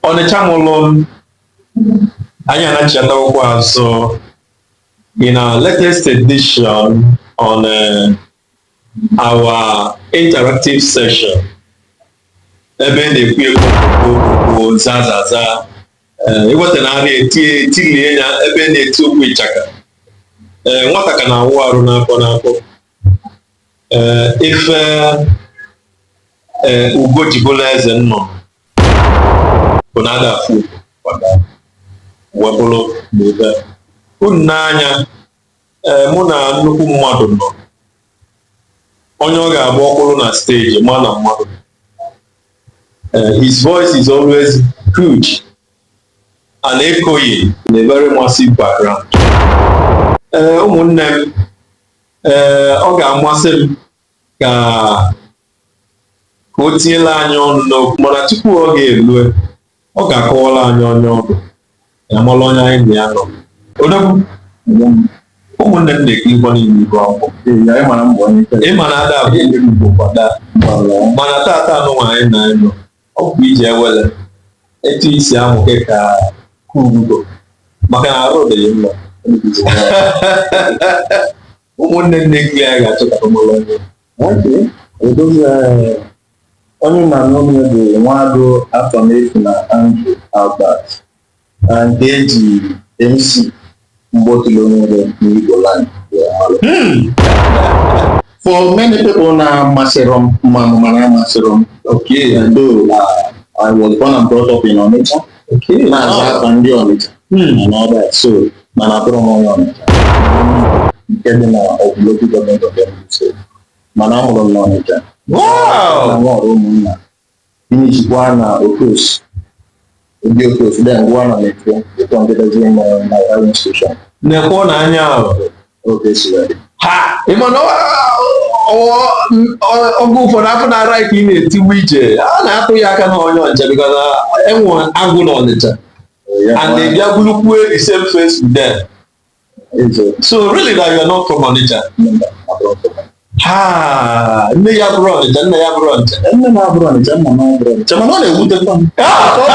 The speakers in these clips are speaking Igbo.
Ọnịcha mụrụ m, anyị anachiatawokwa azụ in our latest edition on uh, our interactive session ebe a na-ekwu okwu zazaza ịweta na arịa etinye etilie ya ebe a na-eti okwu ịchaka ee nwata ka na-awụ arụ n'afọ n'afọ ee ife ee ugo ji bụlụ eze nnụnụ bụ na ada afụ maka wee bụrụ na ebe a. unu n'anya ee mụ na nnukwu mmadụ nọ onye ọ ga-agba ọkpụrụ na steji ma na mmadụ Eh, his voice is always huge and echoing in a very massive background. Ee, ụmụnne m ee ọ ga-amasị m ka ka o tinyela anyị ọnụ n'okwu mana tupu ọ ga-elue ọ ga-akọwara anyị onye ọ bụ ya mara onye anyị na ya nọ odogwu ụmụnne m na-ekiri ụgbọ niile ibu akwụkwọ ị ma na ada afụ ugo kwa daa mana tata anụnwa anyị na gị nọ ọ bụ iji ewele etu isi ahụ gị ka kugo maka na arụ dịghị mma ụmụnne nne gị anyị ga-achọta mụrụ onye Okay so onye ị na-anụ onu ya bụ Nwado Afamefuna Andrew Albert nke e ji MC Mgbotilo nwere n'Igbo land wee malụ. For many people na-amasịrọ m ma mụ mana amasịrọ m. Okay. Though uh, I was born and brought up in Onitsha. na-aza afa ndị Ọnịcha hmm. and all that so mana abụrọ m onye Ọnịcha nke dị na local government area so mana amụrụ m n'Ọnịcha na nwa ọrụ ụmụnna finishikwa na of course ndị of course dị ngwa na mekwe ụtọ ndị dozie na na institushọn na-ekwe na anya ahụ oge ụfọdụ afọ na-ara ka ị na-etiwu ije a na-atụ ya aka na onye ọnịcha because ị nwe agwa ndị ọnịcha and ị bịa burukwue the same face with them so really that you are not from ọnịcha ha nne ị abụrọ ọnịcha nna ị abụrọ ọnịcha nne m abụrọ ọnịcha nna m abụrọ ọnịcha mana ọ na-ewutekwa m ka ọ bụrụ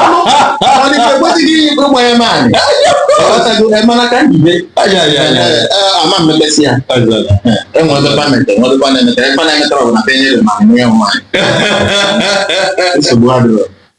ọnịcha ekwesịghị iyi ikpe ụmụ ya maanyị ọghọtago eh, mana ka njibe ama mmepesi ya enwere pamentị enwere panemeta ekpa na-emetara ọbụla ka enyere ma nwe ya nwaanyị nsogbu adịrọ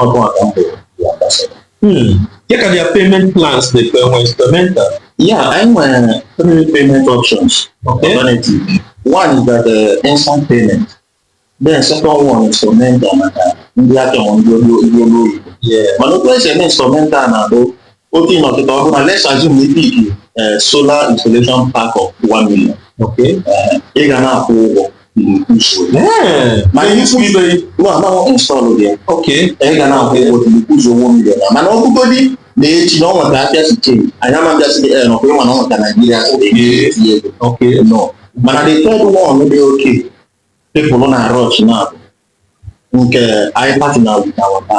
ọnụ ala mbụ ya gbasara Hmm. Kee ka their payment plans e nwere uh, installmental. Yeah, anyị nwere three payment options okay. alternative. One is that the uh, instant payment. Then second one is installmental maka ndị aka ndị ọlụ oyibo. Mana otu esi eme installmental na-abụ Okay, now the government, let's assume ị pick uh, solar installation pack of 1 million. Okay. Uh, ị ga na-akwụ ụgwọ. ma ihe isi ibe nsọlụ dị ya okay anyị ga na-akwụ ụgwọ ụzọ ụgwọ million mana ọ bụgodi na echi na ọ nweta abịa site anyị ama mbịa site ee nọkwa ịma na ọ nweta naijiria tinye ego okay no mana the third one dị okay people na-arush na nke anyị partner with wata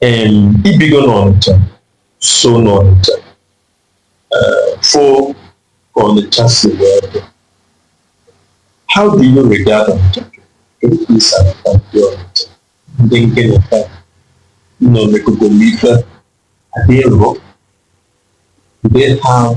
em i bigo n'Ọnịcha so n'Ọnịcha eh, fụ ka Ọnịcha si wee dị how do you regard Ọnịcha kedu ka i si anata ndị Ọnịcha ndị nkeneta nọ n'egogo n'ife adịrọ do they have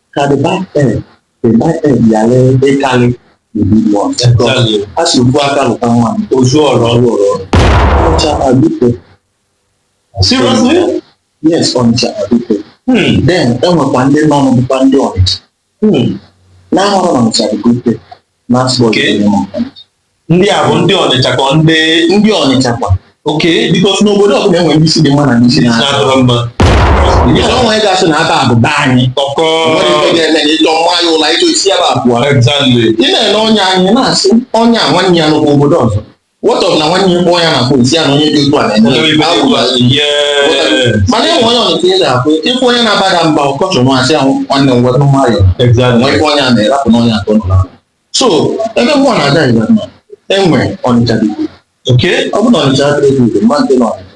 ka the bad egg the bad egg yara ịkarị the good one eh a sị ofu aka lụta mmanụ o zue ọra ọnụ ọnịcha abike seriously yes ọnịcha abike hmm. then enwekwa ndị nọ n'ọbụkwa ndị ọnịcha hmm. na-ahọrọ ọnịcha abike n'afọ Okay. iri na ọbụla. ndị a bụ ndị ọnịcha ka ọ ndị ndị ọnịcha kwa okay because n'obodo ọbụla enwere ndị isi dị mma na ndị isi na na-adịrọ mma Ịchọ nwa ị ga-asị na aka a bụ be anyị ọkọ Nwere ife ga-eme na ịchọ nwa ya ụla ịchọ isi ya bụ abụọ exactly ị na-ele onye anyị na-asị onye a nwanne ya nọkwa obodo ọzọ What of na nwanne ya kpọọ ya na fon sị ya na onye dị otu a na-eme Onye ibe agwụ ya. Yeah. mana enwe onye ọnụtụ ị na-akwụ ị fụ onye na-aba gị mba ọkọchọ nwa sị ah nwanne m wetụ nwayọ nwe Exactly. ife onye a na-erapụ n'onye atọ nọ n'ahụ. so ebe mụ na-aga ịga mma enwe ọnịcha dị ukwuu. Okay. ọ bụ na ọnịcha adịghị dị ukwuu, mmadụ dị n'ọnịcha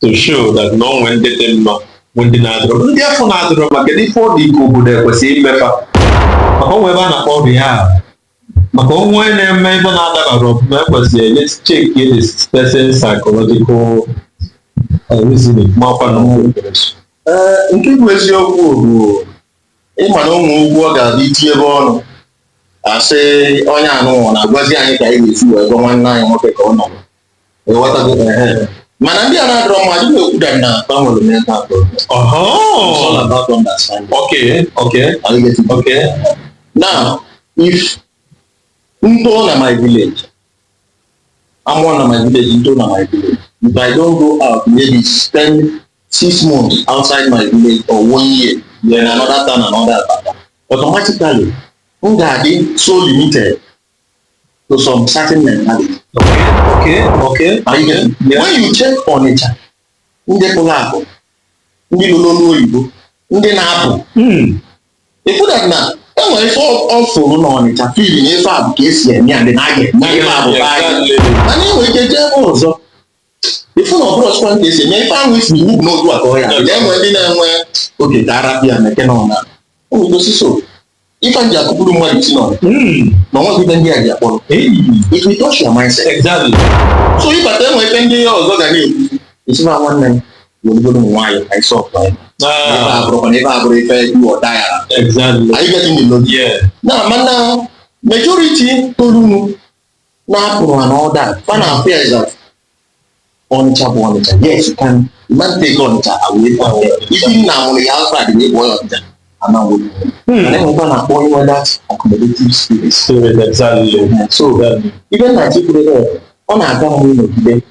to show that na o nwe ndị dị mma nwe ndị na-adịrọ ndị afụ na-adịrọ mma kedu ife ọ dị ka obodo ekwesị ime fa maka o nwe ebe a na-akpọ ọrịa ahụ maka o nwe onye na-eme ife na-adabarọ ọfụma ekwesị enye check the person psychological uh, reasoning makwa na o nwe ee nke bụ eziokwu bụ ịma na o nwe ụgwọ ọ ga-abụ iti ebe ọnụ a sị onye afụ nwa na-agwazi anyị ka anyị ga-esi wee gwa nwanne anyị nwoke ka ọ nọrọ mana ndị a na-adọrọ mma adịghị ekwuda na gbanwere mental progress it's all about understanding okay okay are you getting okay now if ndo na my village I'm one of my village ndo na my village if I don't go out maybe spend six months outside my village or one year in another town another town automatically m ga-adị so limited to some certain mentality. Okay, okay, okay. Are you getting? Yeah. When you check Onitsha, ndị pụrụ apụ, ndị nọ n'ọlụ oyibo, ndị na-apụ. Ị fụ that na e nwere ife ọ fụrụ n'Ọnịcha feel na ife a bụ ka esi eme ya ndị na-aga eme ife a bụ be anyị. Mana e nwere ike jee ebe ọzọ ịfụ na ọbụrụ ọchịkwa nke esi eme ife ahụ isi iwu bụ n'otu aka ọhịa na-enwe ndị na-enwe oge ka arapịa na eke na ọna o nwere osisi o ife ji akụpụrụ mmadụ isi n'ọna Mm. na ọnwa gị ndị a ji akpọrọ Hey. it will touch your mindset Exactly. so ịbata enwe ife ndị ya ọzọ ga na-ekwu isi na nwanne m welugodu nwayọ ka ịsọ ọkpa ya ebe a Ah, bụrụkwa na ebe a bụrụ ife dị ọda ya exactly. are you getting the logic Yeah. na mana majority tolunu na-apụrụ and all that fa na-afeel that ọnịcha bụ ọnịcha yes you can you can't take ọnịcha away from them even na amụrụ ya outside na ọ bụ onye ọnịcha ama nwụrụ mana enwekwa na-akpọ onye nwe that accommodative spirit Spirit, exactly. so Exactly. even na chi kwuru ebe ọ na-aga mgbe ịnọgide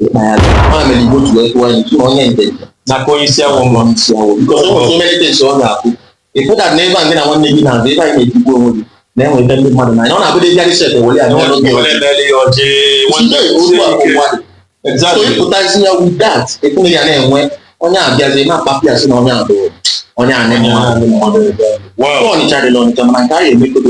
ịkpa ya ma mere igbo ji wee tụọ ya n'ilu onye ije na-aka onye isi awọ nwa isi awọ because e nwere so many things ọ ga-abụ ịpụta na ebe a nke na nwanne gị na-azụ ebe anyị na-etigbu onwe gị na-enweta ndị mmadụ n'anya ọ na-abụdị ịgarị set were ya n'ọnụ gị ọjị Tinye otu a ụwa dị. so ịpụtazi ya with that ekwughị ya na-enwe onye abịazi na-akpapụ ya sị na onye a bụ onye anyị mmadụ Wow. ọnịcha dị n'ọnịcha mana nke anyị emekodo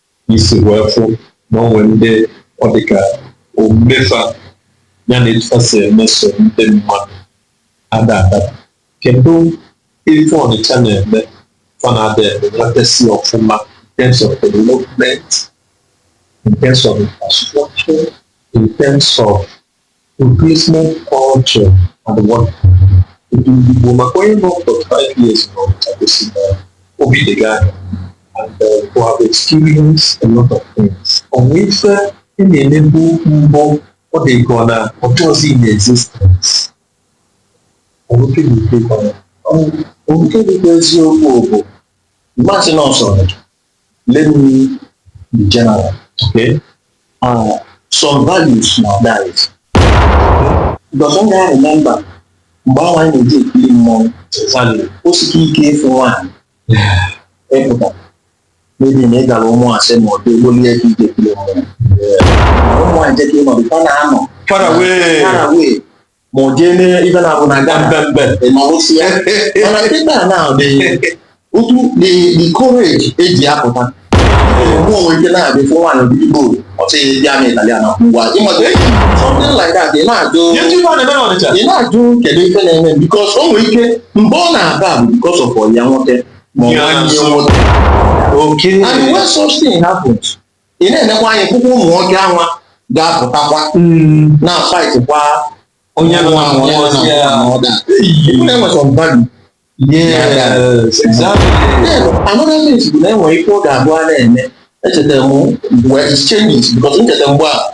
i si wee fụ na o nwere ndị ọ dị ka omume fa ya na etu fa si emeso ndị mmadụ ada adaba. Kedụ ife Ọnịcha na-eme fa na-ada enwetasị ọfụma in terms of development, in terms of infrastructure, in terms of Replacement culture and whatever maka onye nọ 45 years n'Ọnịcha gosi na o bitego anya and uh, you have experienced a lot of things. O nwe ife ị na-emebu mbụ ọ dị ka na ọ dịrọzi in existence. Ọ bụ nke dị ike ka ọ na- Ọ bụ nke dịkwa eziokwu bụ mmasị na ọsọrọ let me be general. Okay. Uh, some values na dies. Because when I remember, mgbe ahụ anyị na-eji ekiri mmọnwụ Value. o sili ike ịfụ nwaanyị ịpụta maybe na ị gara ụmụazị ma ọ dị egbolie gị ije ekiri mmọnwụ ụmụ nwaanyị jeka ịnọdụ fa na-anọ Far away. far away ma o jee mee ife na-abụ na aga mbembe ịnọrụsi ya mana kịta na otu the courage eji apụta mmọnwụ nwe ike na-abịa fụ nwaanyị obi igbo ọ sị ya pịa m ịtalị ngwa ịmata eji something like that ị na-ajụ ị na-ajụ kedu ife na-eme because o nwere ike mgbe ọ na-aba bụ because of ọyị ya nwoke ma ọ nwanne nwoke okay and when such thing happens ị na-enekwa anya fụkwa ụmụ nwoke anwa ga-apụtakwa na-afightkwa onye nwa ma onye nwa and all that enwe some value Yes, exactly. Then, another thing bụ na enwere ife ọ ga-abụ a na-eme echetara m mgbe exchanges because nchetara mgbe a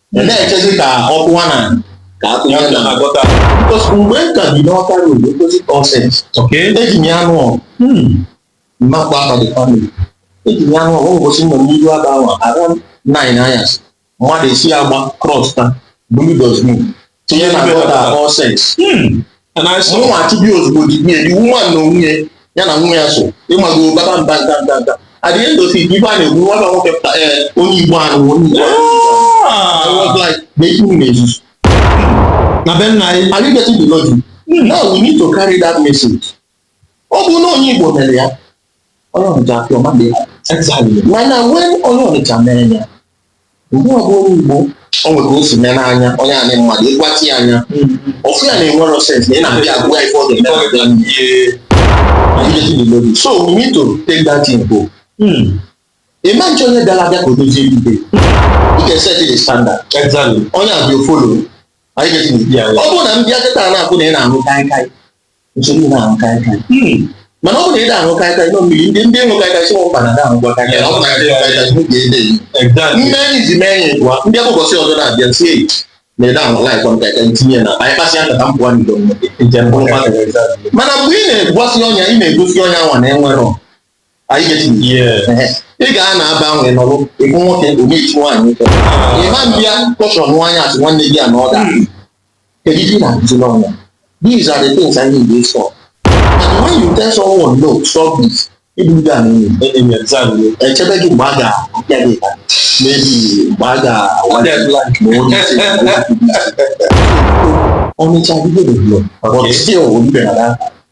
Ị na-echezi ka ọ kụwa na ka a kụnye na gutter because mgbe m ka bi n'ọka road opposite All Saints Okay. eji m ya anụ ọgụ Hmm. m ma kpọ afa the family eji m ya anụ ọgụ ụbọsị nọ n'iru aba ahụ around nine anyasị mmadụ esi agba cross ta bulu dustbin tinye na gutter All Saints Hmm. And I saw nwa achụbi ozugbo di nwunye the woman na nwunye ya na nwa ya so ịmago baba mba nta nta nta at the end of it ife a na-ekwu nwa na nwoke pụta ee onye igbo anụ onye igbo anụ I was Ah. like na ife unu na-ezuzu Na be nna anyị. are you getting the logic now we need to carry that message ọ bụ na onye Igbo mere ya onye Ọnịcha apịa ọma dị mana wee onye Ọnịcha mere ya mgbe ọ bụ onye Igbo o nwere ka o si mee n'anya onye anyị mmadụ ịgwati anya ọfụ ya na enwero sense na ị na-abịa agwa ife ọ ga-eme so we need to take that in go imagine onye bịara abịa ka o dozie ibe ị ga-eset the standard onye a bịa a follow ọ bụrụ na m bịa kịta na-akwụ na ị na-aṅụ kaikai nsogbu na-aṅụ kaikai mana ọ bụ na ị na-aṅụ kaikai nọ mmiri ndị ndị ịṅụ kaikai sị mba na na-aṅụkwa kaikai ọ bụ na ndị kaikai bụ ka ede yi mme anyị ji mee anyị gwa ndị bụ ụbọsị ọzọ na-abịa si eyi na ede ahụ laikọ m kaikai ntinye na anyị kpasịa nkata mpụwa n'ido mmiri mana mgbe ị na-egosi onye a ị na-egosi onye anwa na enwere anyị getiri Ehe. ị ga na aba ahụ ị nọrọ ịbụ nwoke onye iti nwaanyị ụtọ ịma mbịa caution nwaanyị asị nwanne gị a na ọ da kedu ihe ị na-akụzi n'ọnwa these are the things I need to stop and when you tell someone no stop this ịbụ ndị a na-enye enyi exam gị echebe gị mgbe a ga-apịa gị ka mebi mgbe a ga-awa gị ma onye isi ma onye isi. Ọnịcha adịghị develop but Okay. still oyibe na that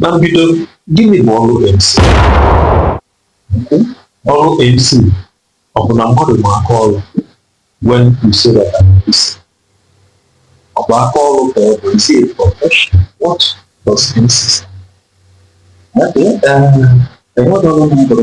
na mbido gịnị bụ ọrụ MC ọrụ MC ọ bụ na mmadụ ma aka ọrụ when you say that I'm MC ọ bụ aka ọrụ ka ọ bụ is it a profession what does MC stand for? Okay, uh, enwere ọrụ m bụrụ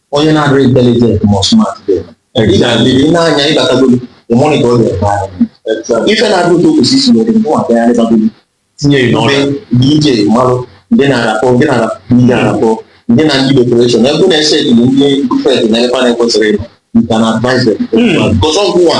onye na-adịrị intelligent ma smart dị ị ga-adịrị ị na-anya ịbatagolu ịmụrụ ka ọ ga-eme ahụ ife na-adị otu okwesị isi nwere mụ agagharịbagolu tinye ya n'ọrụ ndị DJ malụ ndị na-arapọ ndị na-arapọ ndị na-arapọ ndị na ndị decoration ebe na-ese ekele dị perfect na ebe na-ekwesịrị ịnọ you can advise them because ọgwụ a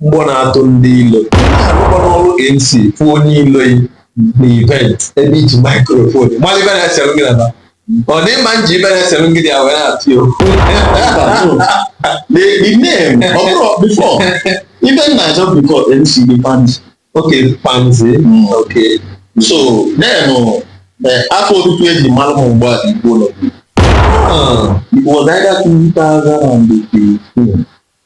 mgbọ na-atụ ndị ilo arụkọ n'ọrụ MC pụ onye ilo yi na event ebe iji microphone mmadụ ibe na-esere gị naba ọ dị mma nji ibe na-esere gị dị ya wee na-atụ ya okwu the the name ọ bụrụ before ibe nna achọ before MC dị panzi oke panzi oke so then uh, eh, afa otutu eji mara m mgbe a dị igbo nọ Ah, it was either 2015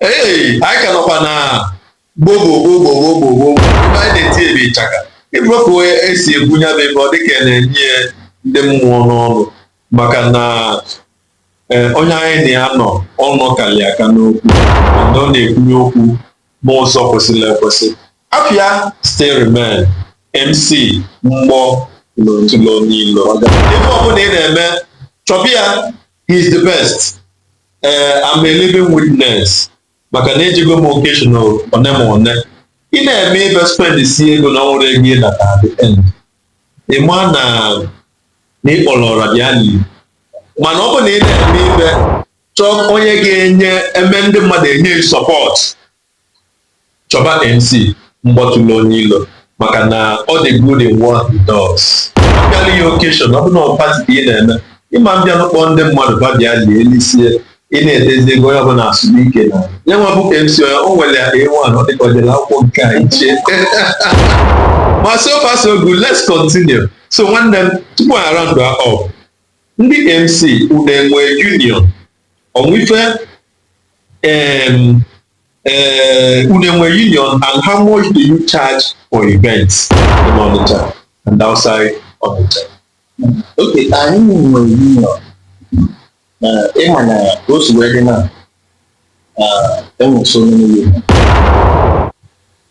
Hey, anyị ka nọkwa na gbogbogbogbogbogbogbogbo ebe anyị na-eti ebe ịchaka ịbụrọpụ esi egwu ya bụ ebe ọ dịka ya na-enye ya ndị mmụọ n'ọnụ maka na eh, onye anyị na ya nọ ọnụ kalị aka n'okwu na ọ na-ekwunye okwu n'ụzọ kwesịrị ekwesị afa ya still remain mc mgbọ na-atụlụ onye ilo ife ọbụna ị na-eme chọba ya he's the best ee I'm a living witness maka na ejego m occasion ya one on one ị na-eme ife spend sie ego na o nwerọ ego ị nata at the end ị ma na na ị kpọrọ ọra bịa lie mana ọ bụ na ị na-eme ife chọọ onye ga-enye eme ndị mmadụ enye ị support Chọba MC Mgbọ tụlụ onye ilo maka na ọ dị good in what he does. Abịalụ ya occasion, ọ bụ na ọ party ka ị na-eme, ị ma mbịanụ kpọọ ndị mmadụ fa bịa lie, lisie, ị na-etezi egwu onye ọbụla asụba ike na ya nwa bụ MC o nwere ya A1 ọ dị ka o jere akwụkwọ nke a iche. Ma so far so good, let's continue. So nwanne m, tupu anyị round up, ndị MC unu enwe union o nwe ife unu enwe union and how much do you charge for events in Onitsha and outside Onitsha? Okay, anyị nwere union ịma ka o si wee dị na enwere so many union